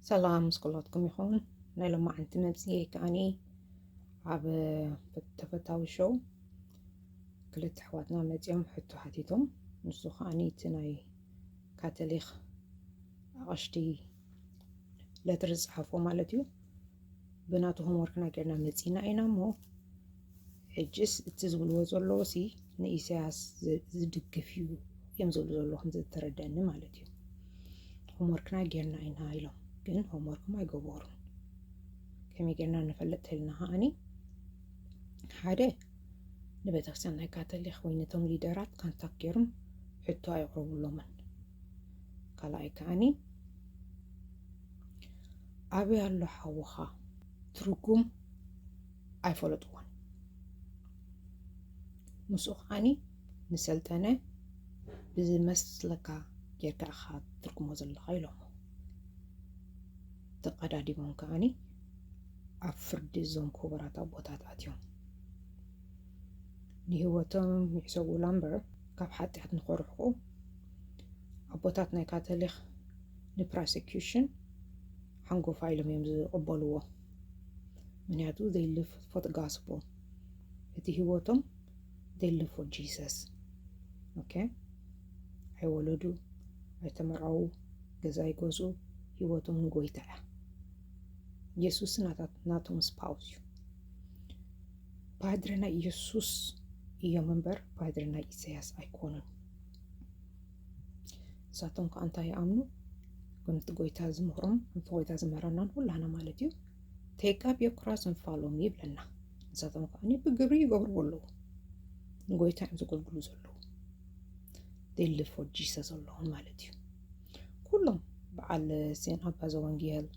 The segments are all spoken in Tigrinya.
ሰላም ምስ ኩላትኩም ይኹን ናይ ሎማዓንቲ መብፅኤ ከዓኒ ኣብ ተፈታዊ ሸው ክልተ ኣሕዋትና መፂኦም ሕቶ ሓቲቶም ንሱ ከዓኒ እቲ ናይ ካቶሊክ ኣቐሽቲ ለትሪ ዝፅሓፎ ማለት እዩ ብናቱ ሆምወርክና ጌርና መፂና ኢና እሞ ሕጅስ እቲ ዝብልዎ ዘለዎሲ ንኢሰያስ ዝድግፍ እዩ እዮም ዝብሉ ዘለዉ ከምዘተረደኣኒ ማለት እዩ። ሆምወርክና ጌርና ኢና ኢሎም ግን ሆምወርክም ኣይገበሩን። ከመይ ጌርና ንፈልጥ ተልና ከዓኒ ሓደ ንቤተክርስትያን ናይ ካቶሊክ ወይ ነቶም ሊደራት ካንታክ ጌርም ሕቶ ኣይቕረቡሎምን። ካልኣይ ከዓኒ ኣበይ ኣሎ ሓውኻ ትርጉም ኣይፈለጥዎን ምስኡ ከዓኒ ንሰልጠነ ብዝመስለካ ጌርካ ኢኻ ትርጉሞ ዘለኻ ኢሎሞ ተቀዳዲሞም ከዓኒ ኣብ ፍርዲ እዞም ክቡራት ኣቦታት ኣትዮም ንህይወቶም ይሕሰቡላ እምበር ካብ ሓጢኣት ንኸርሕቁ ኣቦታት ናይ ካቶሊክ ንፕሮሴኪሽን ሓንጎፋ ኢሎም እዮም ዝቕበልዎ ምክንያቱ ዘይ ሊቭ ፎር ጋስፕል እቲ ህይወቶም ዘይ ሊቭ ፎር ጂሰስ ኦኬ ኣይወለዱ ኣይተመርዓዉ ገዛ ኣይገዝኡ ህይወቶም ንጎይታ እያ ኢየሱስ ናቶም ስፓውስ እዩ ፓድረ ናይ ኢየሱስ እዮም እምበር ፓድረ ናይ ኢሳያስ ኣይኮኑን ንሳቶም ከዓ እንታይ ይኣምኑ ከምቲ ጎይታ ዝምህሮም ከምቲ ጎይታ ዝምህረናን ኩላና ማለት እዩ ቴቃብ የኩራስ እንፋሎም ይብለና ንሳቶም ከዓ ብግብሪ ይገብርዎ ኣለዉ ንጎይታ እዮም ዘገልግሉ ዘለዉ ዴልፎ ጂሰ ዘለዎም ማለት እዩ ኩሎም በዓል ሴን ኣባ ዘወንጌል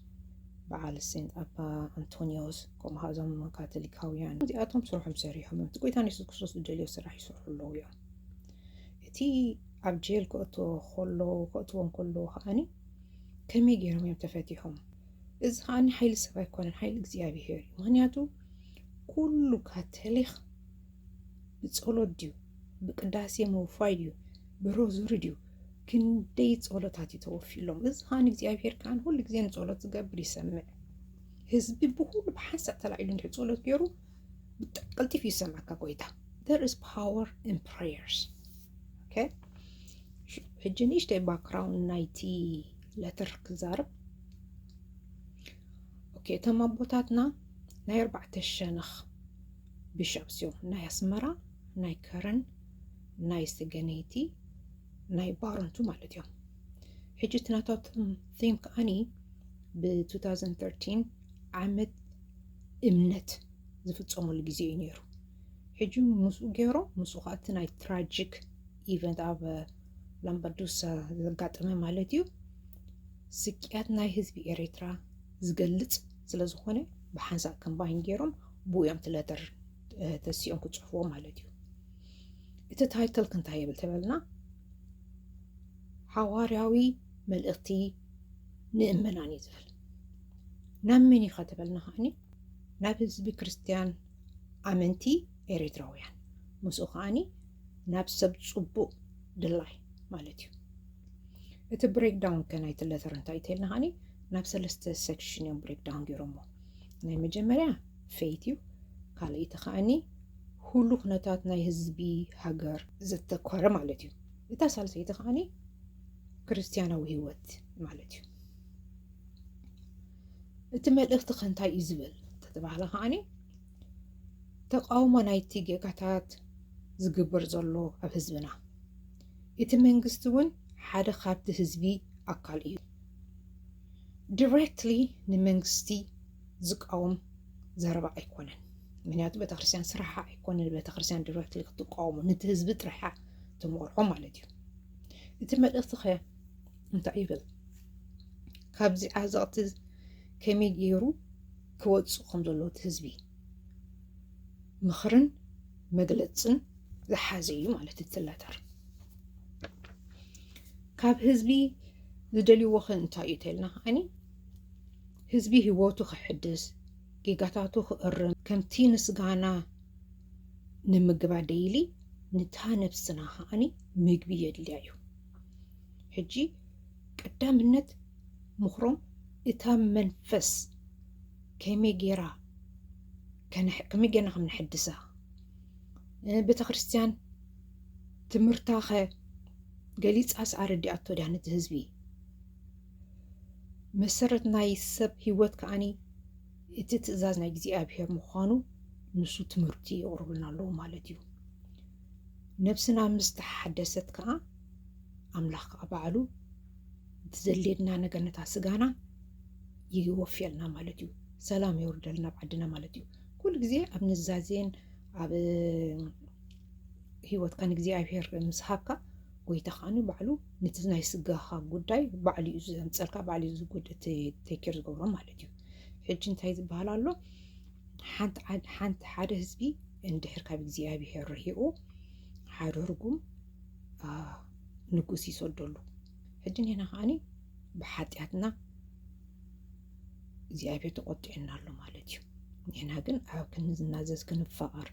በዓል ሴንት ኣባ ኣንቶኒዎስ ከምኡ ከዓ እዞም ካቶሊካውያን እዚኣቶም ስርሖም ሰሪሖም እዮም እቲ ጎይታ ንየሱስ ክርስቶስ ዝደልዮ ስራሕ ይሰርሑ ኣለዉ እዮም እቲ ኣብ ጀል ክእትዎ ከሎ ክእትዎም ከለዉ ከዓኒ ከመይ ገይሮም እዮም ተፈቲሖም? እዚ ከዓኒ ሓይሊ ሰብ ኣይኮነን፣ ሓይሊ እግዚኣብሄር እዩ። ምክንያቱ ኩሉ ካቶሊክ ብፀሎት ድዩ ብቅዳሴ ምውፋይ ድዩ ብሮዙሪ ድዩ ክንደይ ፀሎታት እዩ ተወፊሎም። እዚ ከዓ እግዚኣብሄር ከዓ ሁሉ ግዜ ንፀሎት ዝገብር ይሰምዕ። ህዝቢ ብኩሉ ብሓንሳእ ተላዒሉ እንድሕር ፀሎት ገይሩ ብጣዕሚ ቀልጢፍ እዩ ዝሰምዓካ ጎይታ there is power in prayers okay ሕጂ ንእሽተይ ባክግራውንድ ናይቲ ለትር ክዛርብ ኦኬ እቶም ኣቦታትና ናይ ኣርባዕተ ሸነኽ ቢሾፕስ እዮም ናይ ኣስመራ ናይ ከረን ናይ ስገነይቲ ናይ ባረንቱ ማለት እዮም ሕጂ እቲ ናታቶም ቲም ከዓኒ ብ2013 ዓመት እምነት ዝፍፀመሉ ግዜ እዩ ነይሩ ሕጂ ምስኡ ገይሮ ምስኡ ከዓ እቲ ናይ ትራጂክ ኢቨንት ኣብ ላምባዱሳ ዘጋጠመ ማለት እዩ ስቅያት ናይ ህዝቢ ኤርትራ ዝገልፅ ስለዝኾነ ብሓንሳእ ከምባይን ገይሮም ብኡ እዮም ትለተር ተሲኦም ክፅሕፍዎ ማለት እዩ እቲ ታይትል ክንታይ ይብል ተበልና ሓዋርያዊ መልእኽቲ ንእመናን እዩ ዝብል ናብ መን ኢኻ ተበልና ከዓኒ ናብ ህዝቢ ክርስትያን ኣመንቲ ኤርትራውያን ምስኡ ከዓኒ ናብ ሰብ ፅቡቅ ድላይ ማለት እዩ እቲ ብሬክዳውን ከ ናይቲ ለተር እንታይ ተልና ከዓኒ ናብ ሰለስተ ሴክሽን እዮም ብሬክዳውን ገይሮሞ ናይ መጀመርያ ፌት እዩ ካልኣይቲ ከዓኒ ሁሉ ኩነታት ናይ ህዝቢ ሃገር ዘተኮረ ማለት እዩ እታ ሳልሰይቲ ከዓኒ ክርስትያናዊ ህይወት ማለት እዩ እቲ መልእኽቲ ከ እንታይ እዩ ዝብል ተተባህለ ከዓኒ ተቃውሞ ናይቲ ጌጋታት ዝግበር ዘሎ ኣብ ህዝብና እቲ መንግስቲ እውን ሓደ ካብቲ ህዝቢ ኣካል እዩ ዲሬክትሊ ንመንግስቲ ዝቃወም ዘረባ ኣይኮነን ምክንያቱ ቤተክርስትያን ስራሓ ኣይኮነ ንቤተክርስትያን ዲሬክትሊ ክትቃወሙ ነቲ ህዝቢ ጥራሓ ተመርሖ ማለት እዩ እቲ መልእኽቲ ከ እንታይ ይብል ካብዚ ዓዘቕቲ ከመይ ገይሩ ክወፁ ከም ዘለዎ እቲ ህዝቢ ምኽርን መግለፅን ዝሓዘ እዩ ማለት እቲ ለተር ካብ ህዝቢ ዝደልይዎ ኸ እንታይ እዩ ተልና ከዓኒ ህዝቢ ህይወቱ ክሕድስ ጌጋታቱ ክእርም ከምቲ ምስጋና ንምግባ ደይሊ ንታ ነብስና ከዓኒ ምግቢ የድልያ እዩ ሕጂ ቀዳምነት ምኽሮም እታ መንፈስ ከመይ ጌራ ከመይ ጌርና ከም ነሐድሳ ቤተ ክርስቲያን ትምህርታ ኸ ገሊፃስ ኣረዲኣቶ ድያ ነቲ ህዝቢ መሰረት ናይ ሰብ ህይወት ከዓኒ እቲ ትእዛዝ ናይ እግዚኣብሔር ምዃኑ ንሱ ትምህርቲ የቕርቡልና ኣለዉ ማለት እዩ ነብስና ምስ ተሓደሰት ከኣ ኣምላኽ ከኣ ባዕሉ እቲ ዘድልየና ነገር ነታ ስጋና ይወፍየልና ማለት እዩ። ሰላም የውርደልና ኣብ ዓድና ማለት እዩ። ኩሉ ግዜ ኣብ ንዛዜን ኣብ ሂወትካ ንእግዚኣብሄር ምስ ሃብካ ጎይታ ከዓኒ ባዕሉ ነቲ ናይ ስጋኻ ጉዳይ ባዕሉ እዩ ዘምፀልካ ባዕሉ እዩ ቴኬር ዝገብሮ ማለት እዩ። ሕጂ እንታይ ዝበሃል ኣሎ ሓንቲ ሓደ ህዝቢ እንድሕር ካብ እግዚኣብሄር ርሒቑ ሓደ ርጉም ንጉስ ይሰደሉ ሕጂ ኒና ከዓኒ ብሓጢኣትና እግዚኣብሄር ተቆጢዕና ኣሎ ማለት እዩ ኒና ግን ኣብ ክንዝናዘዝ ክንፋቐር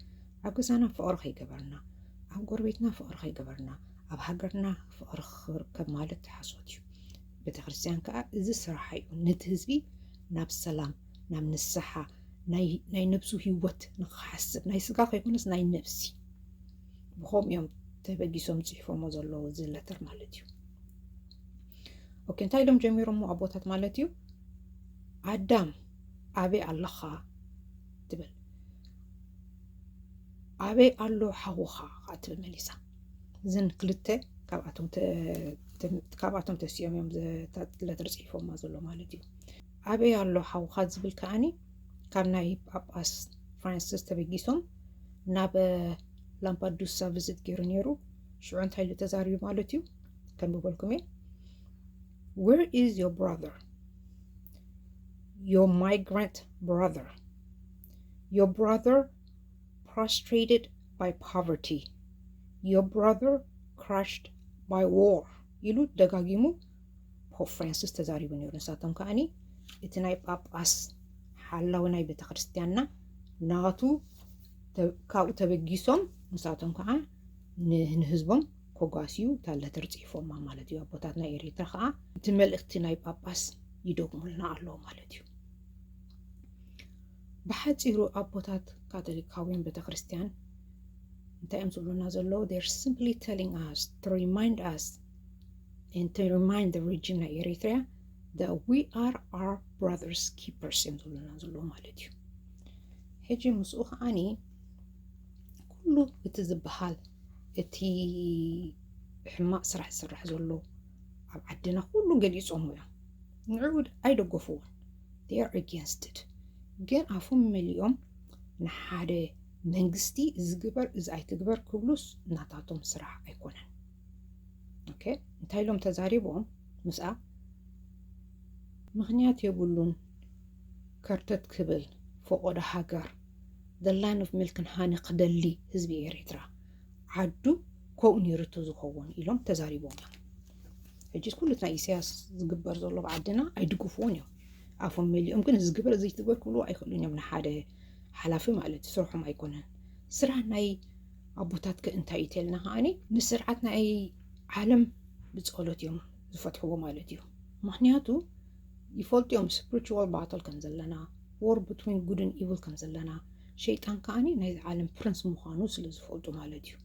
ኣብ ገዛና ፍቕሪ ከይገበርና ኣብ ጎረቤትና ፍቕሪ ከይገበርና ኣብ ሃገርና ፍቕሪ ክርከብ ማለት ሓሶት እዩ ቤተ ክርስትያን ከዓ እዚ ስራሓ እዩ ነቲ ህዝቢ ናብ ሰላም ናብ ንስሓ ናይ ነብሱ ሂወት ንክሓስብ ናይ ስጋ ከይኮነስ ናይ ነብሲ ብከምኡ እዮም ተበጊሶም ፅሒፎሞ ዘለዉ እዚ ለተር ማለት እዩ ኦኬ እንታይ ኢሎም ጀሚሮሞ ኣቦታት ማለት እዩ ኣዳም ኣበይ ኣለኻ ትብል ኣበይ ኣሎ ሓውኻ ከዓ ትብል መሊሳ እዘን ክልተ ካብኣቶም ተሲኦም እዮም ለተር ፅሒፎማ ዘሎ ማለት እዩ ኣበይ ኣሎ ሓውካ ዝብል ከዓኒ ካብ ናይ ጳጳስ ፍራንስስ ተበጊሶም ናብ ላምፓዱሳ ቪዝት ገይሩ ነይሩ ሽዑ እንታይ ኢሉ ተዛሪቡ ማለት እዩ ከንብበልኩም እየ ዌር ኢዝ ዮር ብራዘር ዮር ማይግራንት ብራዘር ዮር ብራዘር ፕሮስትሬትድ ባይ ፖቨርቲ ዮር ብራዘር ክራሽድ ባይ ዎር ኢሉ ደጋጊሙ ፖፕ ፍራንሲስ ተዛሪቡ ነይሩ። ንሳቶም ከዓኒ እቲ ናይ ጳጳስ ሓላዊ ናይ ቤተ ክርስቲያንና ናቱ ካብኡ ተበጊሶም ንሳቶም ከዓ ንህዝቦም ኮጓስዩ ታለተር ጽሒፎማ ማለት እዩ። ኣቦታት ናይ ኤሪትራ ከዓ እቲ መልእክቲ ናይ ጳጳስ ይደግሙልና ኣለዉ ማለት እዩ። ብሓፂሩ ኣቦታት ካቶሊካውያን ቤተ ክርስቲያን እንታይ እዮም ዝብሉና ዘለዉ ር ሲምፕሊ ተሊንግ ኣስ ሪማይንድ ኣስ and to remind the region of Eritrea that we are our brothers keepers እዮም ዝብሉና ዘለዎ ማለት እዩ ሕጂ ምስኡ ከዓኒ ኩሉ እቲ ዝበሃል እቲ ሕማቅ ስራሕ ዝስራሕ ዘሎ ኣብ ዓድና ኩሉ ገሊፆም እዮም ንዕኡ ኣይደገፍዎን they are against it ግን ኣፎም መሊኦም ንሓደ መንግስቲ ዝግበር እዚ ኣይትግበር ክብሉስ ናታቶም ስራሕ ኣይኮነን ኦኬ እንታይ ኢሎም ተዛሪቦም ምስኣ ምክንያት የብሉን ከርተት ክብል ፈቆዶ ሃገር the land of milk and honey ክደሊ ህዝቢ ኤርትራ ዓዱ ከምኡ ነይሩ እቲ ዝኸውን ኢሎም ተዛሪቦም እዮም ሕጂ ኩሉ ናይ ኢሳያስ ዝግበር ዘሎ ኣብ ዓድና ኣይድግፍዎን እዮም ኣፎም መሊኦም ግን እዚ ግበር እዚ ትግበር ክብልዎ ኣይክእሉን እዮም ንሓደ ሓላፊ ማለት እዩ ስርሖም ኣይኮነን ስራሕ ናይ ኣቦታት ከ እንታይ እዩ ተልና ከዓኒ ምስ ስርዓት ናይ ዓለም ብፀሎት እዮም ዝፈትሕዎ ማለት እዩ ምክንያቱ ይፈልጡ እዮም ስፕሪቹዋል ባትል ከም ዘለና ዎር ብትዊን ጉድን ኢቭል ከም ዘለና ሸይጣን ከዓኒ ናይዚ ዓለም ፕሪንስ ምዃኑ ስለ ዝፈልጡ ማለት እዩ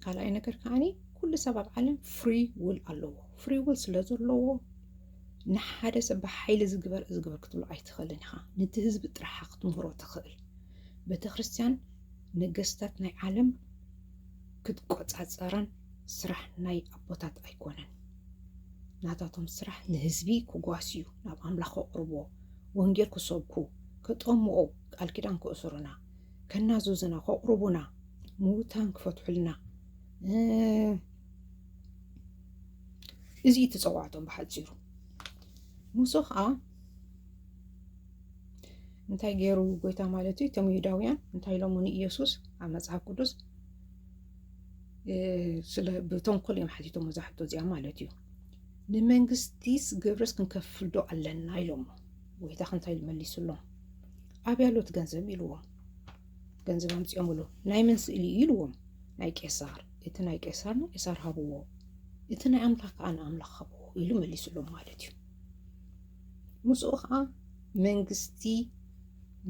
ካልኣይ ነገር ከዓኒ ኩሉ ሰብ ኣብ ዓለም ፍሪ ውል ኣለዎ ፍሪ ውል ስለ ዘለዎ ንሓደ ሰብ ብሓይሊ ዝግበር ዝግበር ክትብሎ ኣይትኽእልን ኢኻ ነቲ ህዝቢ ጥራሓ ክትምህሮ ትኽእል ቤተክርስትያን ነገስታት ናይ ዓለም ክትቆጻጸረን ስራሕ ናይ ኣቦታት ኣይኮነን። ናታቶም ስራሕ ንህዝቢ ክጓስዩ፣ ናብ ኣምላኽ ከቕርብዎ፣ ወንጌል ክሰብኩ፣ ከጠምቑ፣ ቃል ኪዳን ክእስሩና፣ ከናዝዙና፣ ከቕርቡና፣ ምውታን ክፈትሑልና እዚ እዩ ተጸዋዕቶም ብሓጺሩ ሙሶ ከዓ እንታይ ገይሩ ጎይታ ማለት እዩ እቶም ይሁዳውያን እንታይ ኢሎሞ ንኢየሱስ ኣብ መጽሓፍ ቅዱስ ስለ ብተንኮል እዮም ሓቲቶም እዛ ሕቶ እዚኣ ማለት እዩ ንመንግስቲስ ግብርስ ክንከፍልዶ ኣለና ኢሎሞ ጎይታ ክንታይ መሊሱሎም ኣብ ያሎት ገንዘብ ኢልዎም ገንዘብ ኣምፅኦምሉ ናይ መን ስእሊ እዩ ኢልዎም ናይ ቄሳር እቲ ናይ ቄሳር ንቄሳር ሃብዎ እቲ ናይ ኣምላኽ ከዓ ንኣምላኽ ሃብዎ ኢሉ መሊሱሎም ማለት እዩ ምስኡ ከዓ መንግስቲ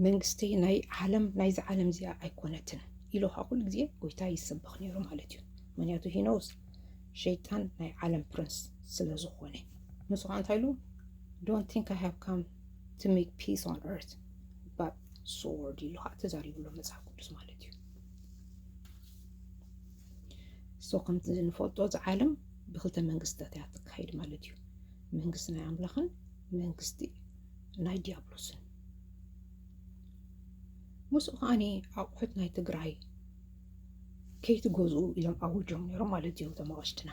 መንግስቲ ናይ ዓለም ናይዚ ዓለም እዚኣ ኣይኮነትን ኢሉ ከዓ ኩሉ ግዜ ጎይታ ይስበኽ ነይሩ ማለት እዩ ምክንያቱ ሂኖስ ሸይጣን ናይ ዓለም ፕሪንስ ስለ ዝኾነ ንሱ ከዓ እንታይ ኢሉ ዶንት ቲንክ ኣይ ሃቭ ካም ቱ ሜክ ፒስ ኦን ኤርት ባት ሶርድ ኢሉ ከዓ ተዛሪብሎ መፅሓፍ ቅዱስ ማለት እዩ ሶ ከምቲ ንፈልጦ እዚ ዓለም ብክልተ መንግስትታት እያ ትካየድ ማለት እዩ። መንግስቲ ናይ ኣምላኽን መንግስቲ ናይ ዲያብሎስን። ምስኡ ከዓኒ ኣቑሑት ናይ ትግራይ ከይትገዝኡ ኢሎም ኣውጆም ነይሮም ማለት እዩ እቶም ኣቕሽትና።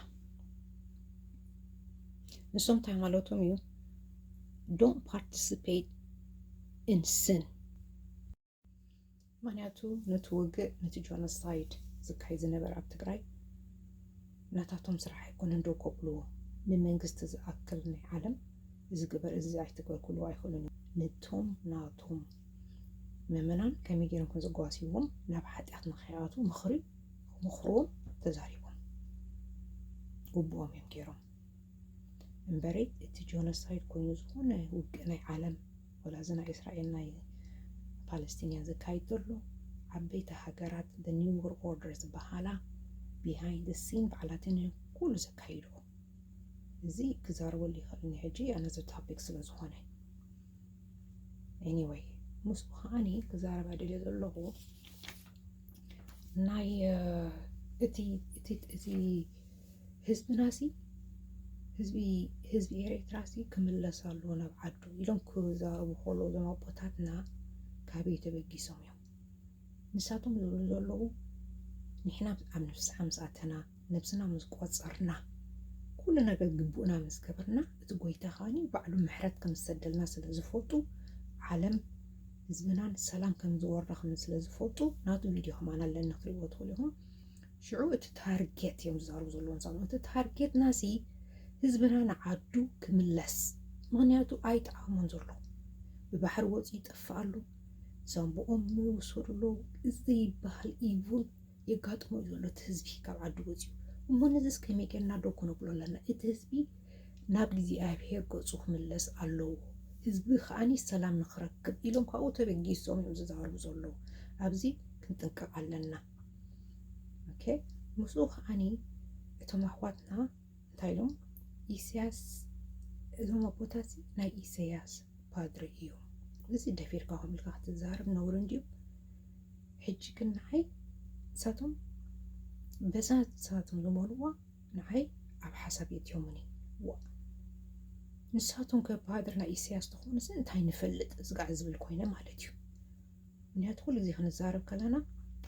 ንሶም እንታይ ማለቶም እዩ ዶን ፓርቲስፔት ኢን ስን ምክንያቱ ነቲ ውግእ ነቲ ጆኖሳይድ ዝካየድ ዝነበረ ኣብ ትግራይ ናታቶም ስራሕ ኣይኮነን ደው ከብልዎ ንመንግስቲ ዝኣክል ናይ ዓለም እዚ ግበር እዚ ኣይትግበር ክብልዎ ኣይኽእሉን እዮም ነቶም ናቶም ምእመናን ከመይ ገይሮም ከም ዘጓስይዎም ናብ ሓጢኣት ንኸይኣትዉ ምኽሪ ምኽሮም ተዛሪቦም ግቡኦም እዮም ገይሮም እምበረይ እቲ ጆኖሳይድ ኮይኑ ዝኾነ ውግእ ናይ ዓለም ወላ እዚ ናይ እስራኤል ናይ ፓለስቲንያ ዘካይድ ዘሎ ዓበይቲ ሃገራት the new world order ዝበሃላ behind the scene ባዕላተን እየን ኩሉ ዘካይድኦ እዚ ክዛረበሉ ይኽእል እኒ ሕጂ ኣነዘ ታፒክ ስለ ዝኾነ ኤኒወይ ምስኡ ከዓኒ ክዛረባ ደልየ ዘለኹ ናይ እቲ እቲ እቲ ህዝብናሲ ህዝቢ ህዝቢ ኤርትራሲ ክምለስ ኣሎ ናብ ዓዱ ኢሎም ክዛረቡ ከለዉ እዞም ኣቦታትና ካበይ ተበጊሶም እዮም ንሳቶም ዝብሉ ዘለዉ ንሕና ኣብ ንፍስሓ ምስ ኣተና ነብስና ምስ ቆፀርና ኩሉ ነገር ግቡእና ምስ ገበርና እቲ ጎይታ ከዓኒ ባዕሉ ምሕረት ከም ዝሰደልና ስለ ዝፈልጡ ዓለም ህዝብናን ሰላም ከም ዝወርዳ ከም ስለ ዝፈልጡ ናቱ ቪድዮ ከማን ኣለኒ ክትሪእዎ ትኽእሉ ኢኹም ሽዑ እቲ ታርጌት እዮም ዝዛረቡ ዘለዉ ንሳቶም እቲ ታርጌትና ሲ ህዝብና ንዓዱ ክምለስ ምክንያቱ ኣይጠዓሞን ዘሎ ብባሕሪ ወፂኡ ይጠፍእ ኣሎ ዛንብኦም ይውሰዱ ኣለዉ ዘይበሃል ኢቭል የጋጥሞ እዩ ዘሎ እቲ ህዝቢ ካብ ዓዱ ወፂኡ እሞ ነዚስ ከመይ ጌርና ዶ ክነብሎ ኣለና እቲ ህዝቢ ናብ እግዚኣብሄር ገፁ ክምለስ ኣለዎ ህዝቢ ከዓኒ ሰላም ንክረክብ ኢሎም ካብኡ ተበጊሶም እዮም ዝዛረቡ ዘለዉ ኣብዚ ክንጥንቀቕ ኣለና ኦኬ ምስኡ ከዓኒ እቶም ኣሕዋትና እንታይ ኢሎም ኢሳያስ እዞም ኣቦታት ናይ ኢሳያስ ፓድሪ እዩ እዚ ደፊርካ ከም ኢልካ ክትዛረብ ነውሪ እንድዩ ሕጂ ግን ንዓይ ንሳቶም በዛ ንሳቶም ዝበልዋ ንዓይ ኣብ ሓሳብ የትዮሙኒ ዋ ንሳቶም ከ ፓድሪ ናይ ኢሳያስ ተኾኑስ እንታይ ንፈልጥ ዝጋዕ ዝብል ኮይነ ማለት እዩ ምክንያቱ ኩሉ ግዜ ክንዛረብ ከለና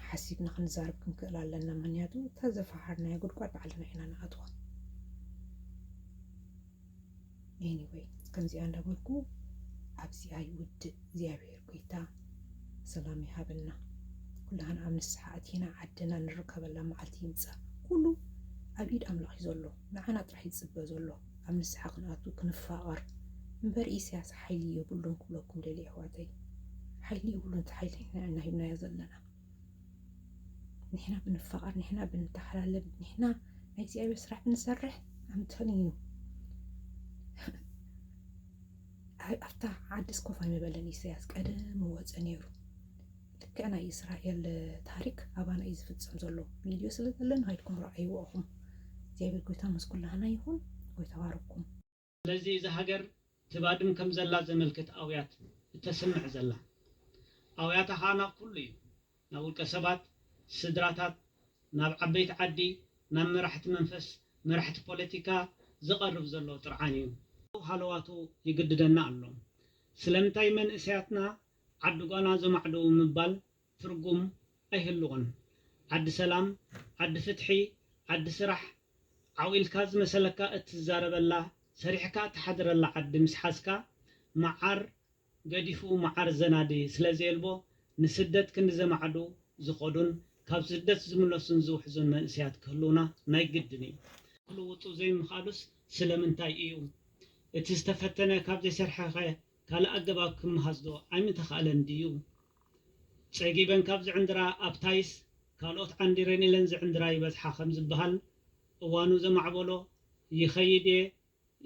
ሓሲብና ክንዛረብ ክንክእል ኣለና ምክንያቱ እታ ዘፈሓርናዮ ጉድጓድ ባዕልና ኢና ንኣትዋ ኤኒወይ ከምዚኣ እንዳበልኩ ኣብዚ ኣይውድእ እግዚኣብሔር ጎይታ ሰላም ይሃበና ኩላህና ኣብ ንስሓ ኣቲና ዓድና ንርከበላ መዓልቲ ይምፃእ ኩሉ ኣብ ኢድ ኣምላኽ እዩ ዘሎ ንዓና ጥራሕ ይፅበ ዘሎ ኣብ ንስሓ ክንኣቱ ክንፋቐር እምበር ኢሰያስ ሓይሊ የብሉን ክብለኩም ደልየ ኣሕዋተይ ሓይሊ የብሉን እቲ ሓይሊ ንሕና ኢና ሂብናዮ ዘለና ንሕና ብንፋቐር ንሕና ብንተሓላለብ ንሕና ናይ እግዚኣብሔር ስራሕ ብንሰርሕ ኣምተን እዩ ኣብታ ዓዲ ስኮፍ ኣይምበለን ኢሰያስ ቀደም ወፀ ነይሩ ልክዕ ናይ እስራኤል ታሪክ ኣባና እዩ ዝፍጸም ዘሎ ቪድዮ ስለ ዘለን ሃይድኩም ረኣይዎ እኹም እግዚኣብሔር ጎይታ ምስ ኩላህና ይኹን ጎይታ ባርኩም። ስለዚ እዛ ሃገር ትባድም ከም ዘላ ዘመልክት ኣውያት እተስምዕ ዘላ። ኣውያታ ከኣ ናብ ኩሉ እዩ፣ ናብ ውልቀ ሰባት፣ ስድራታት፣ ናብ ዓበይቲ ዓዲ፣ ናብ መራሕቲ መንፈስ፣ መራሕቲ ፖለቲካ፣ ዝቐርብ ዘሎ ጥርዓን እዩ። ሃለዋቱ ይግድደና ኣሎ። ስለምንታይ መንእሰያትና ዓዲ ጓና ዘማዕድው ምባል ትርጉም ኣይህልዎን ዓዲ ሰላም ዓዲ ፍትሒ ዓዲ ስራሕ ዓው ኢልካ ዝመሰለካ እትዛረበላ ሰሪሕካ እትሓድረላ ዓዲ ምስ ሓዝካ መዓር ገዲፉ መዓር ዘናዲ ስለ ዘየልቦ ንስደት ክንዲ ዘማዕድው ዝኸዱን ካብ ስደት ዝምለሱን ዝውሕዙን መንእሰያት ክህልውና ናይ ግድን እዩ። ክልውጡ ዘይምኽኣሉስ ስለምንታይ እዩ? እቲ ዝተፈተነ ካብ ዘይሰርሐኸ ካልእ ኣገባብ ክመሃዝዶ ኣይምተኻእለን ድዩ? ጸጊበን ካብ ዝዕንድራ ኣብ ታይስ ካልኦት ዓንዲረን ኢለን ዝዕንድራ ይበዝሓ ከም ዝበሃል፣ እዋኑ ዘማዕበሎ ይኸይድ'የ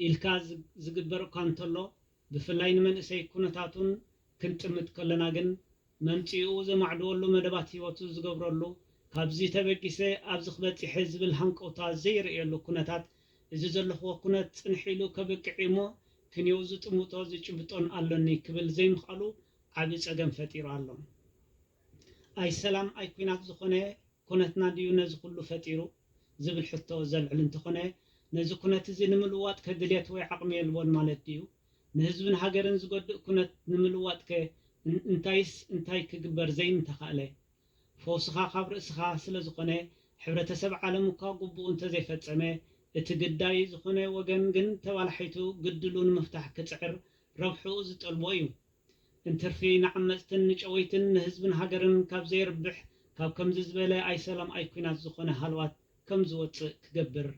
ኢልካ ዝግበር እኳ እንተሎ፣ ብፍላይ ንመንእሰይ ኩነታቱን ክንጥምት ከሎና ግን መምጽኢኡ ዘማዕድወሉ መደባት ህይወቱ ዝገብረሉ፣ ካብዚ ተበጊሰ ኣብዚ ክበጺሐ ዝብል ሃንቀውታ ዘይርእየሉ ኩነታት፣ እዚ ዘለኹዎ ኩነት ጽንሕ ኢሉ ከብቅዕ እዩ'ሞ ክንየው ዝጥምቶ ዝጭብጦን ኣሎኒ ክብል ዘይምኽኣሉ ዓቢ ጸገም ፈጢሩ ኣሎ። ኣይ ሰላም ኣይ ኩናት ዝኾነ ኩነትና ድዩ ነዚ ኩሉ ፈጢሩ? ዝብል ሕቶ ዘልዕል እንተኾነ፣ ነዚ ኩነት'ዚ ንምልዋጥ ከ ድልየት ወይ ዓቕሚ የልቦን ማለት ድዩ? ንህዝብን ሃገርን ዝጎድእ ኩነት ንምልዋጥከ እንታይስ እንታይ ክግበር ዘይምተኻእለ? ፈውስኻ ካብ ርእስኻ ስለዝኾነ ሕብረተሰብ ዓለም እኳ ጉቡኡ እንተዘይፈጸመ እቲ ግዳይ ዝኾነ ወገን ግን ተባላሒቱ ግድሉ ንምፍታሕ ክጽዕር ረብሕኡ ዝጠልቦ እዩ። እንትርፊ ንዓመጽትን ንጨወይትን ንህዝብን ሃገርን ካብ ዘየርብሕ ካብ ከምዚ ዝበለ ኣይሰላም ኣይኩናት ዝኾነ ሃለዋት ከምዝወጽእ ክገብር